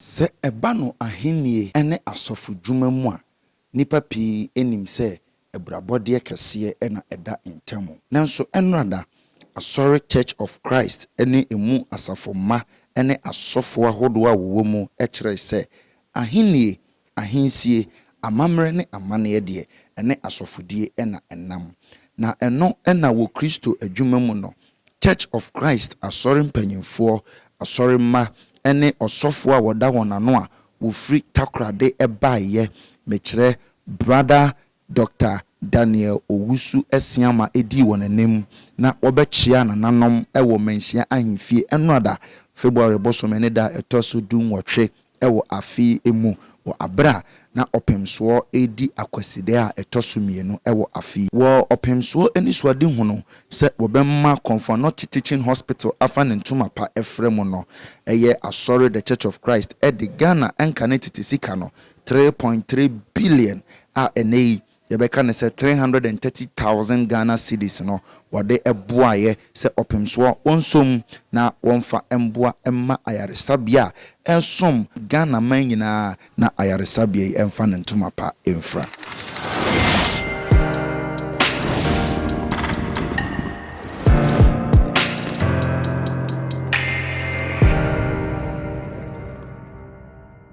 Sɛ ɛba no Ahenni ne asɔfodwuma mu a, nnipa pii nim sɛ abirabɔdeɛ kɛseɛ na ɛda ntam. Nanso Ɛnnora-da, Asɔre Church of Christ ne emu asafo mma ne asɔfo ahodoɔ a wɔwɔ mu kyerɛe sɛ Ahenni, ahensie, amammerɛ ne amanneɛ deɛ, ɛne asɔfodie na ɛnam. Na ɛno na wɔ Kristo adwuma mu no, Church of Christ Asɔre mpanyimfoɔ, Asɔre mma, ne ɔsɔfoɔ a wɔda wɔn ano a wɔfiri Takorade baeɛ, mekyerɛ, Brother Doctor Daniel Owusu Asiamah dii wɔn anim na wɔbɛkyeaa nananom wɔ Manhyia Ahemfie Ɛnnora da, February bosome ne da a ɛtɔ so du-nwɔtwe. wɔ afe mu wɔ bere a na ɔpemsoɔ redi akwasidɛɛ a ɛtɔ so mmienu wɔ afe. Wɔ ɔpemsoɔ anisoadehu no sɛ wɔbɛma Konfo-Anokye Teaching Hospital afa ne ntoma pa frɛ mu no, ɛyɛ Asɔre The Church of Christ de Ghana nkane tete sika no, three point three billion a ɛnnɛ yi Yɛbɛka no sɛ three hundred and thirty thousand Ghana cedis no wɔde boaeɛ sɛ ɔpemsoɔ wɔnsom na wɔmfa mmoa mma ayaresabea a ɛsom Ghanaman nyinaa na ayaresabea yi mfa ne ntoma pa mfira.